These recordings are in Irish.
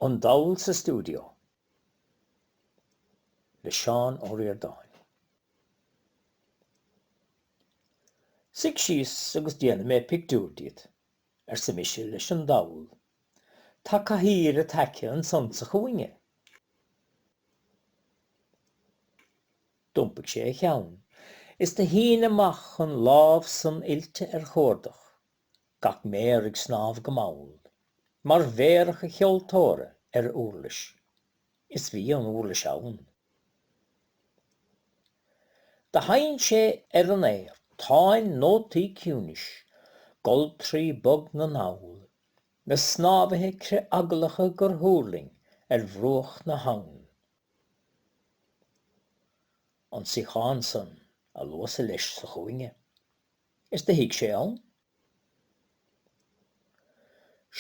An Dall sa Stiúideo le Seán Ó Ríordáin. Suigh síos agus déanfaidh mé pictiúir díot, arsa mise leis an dall. Tá cathaoir id aice ansan sa chúinne. D'iompaigh sé a cheann, is do shín amach an lámh san oilte ar chuardach gach méar ag snámh go mall, mar mhéaracha cheoltóra ar uirlis. Is bhí an uirlis ann. Do sheinn sé ar an aer, táin nótaí ciúnais, goltraí bog na ndall, na snámhaithe critheaglacha gur thuirling ar bhruach na habhann. An suíochán san, a luas-sa leis sa chúinne. Is do shuigh sé ann.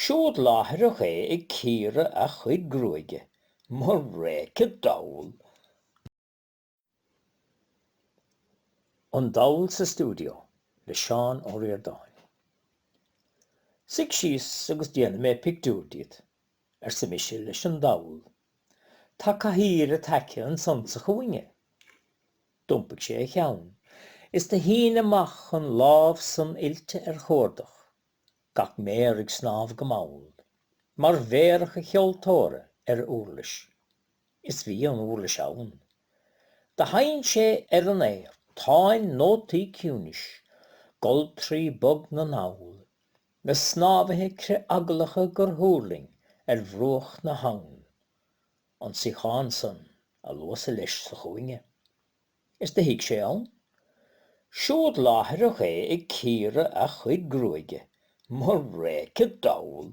Siúd láithreach é ag cíoradh a chuid gruaige, mo réice dall! An Dall sa Stiúideo le Seán Ó Ríordáin. Suigh síos agus déanfaidh mé pictiúir díot, arsa mise leis an dall. Tá cathaoir id aice ansan sa chúinne. D'iompaigh sé a cheann is do shín amach an lámh san oilte ar chuardach, gach méar ag snámh go mall, mar mhéaracha cheoltóra ar uirlis. Is bhí an uirlis ann. Do sheinn sé ar an aer, táin nótaí ciúnais, goltraí bog na ndall, na snámhaithe critheaglacha gur thuirling ar bhruach na habhann. an suíochán san a luas-sa leis sa chúinne, is do shuigh sé ann. Siúd láithreach é ag cíoradh a chuid gruaige, mo réice dall!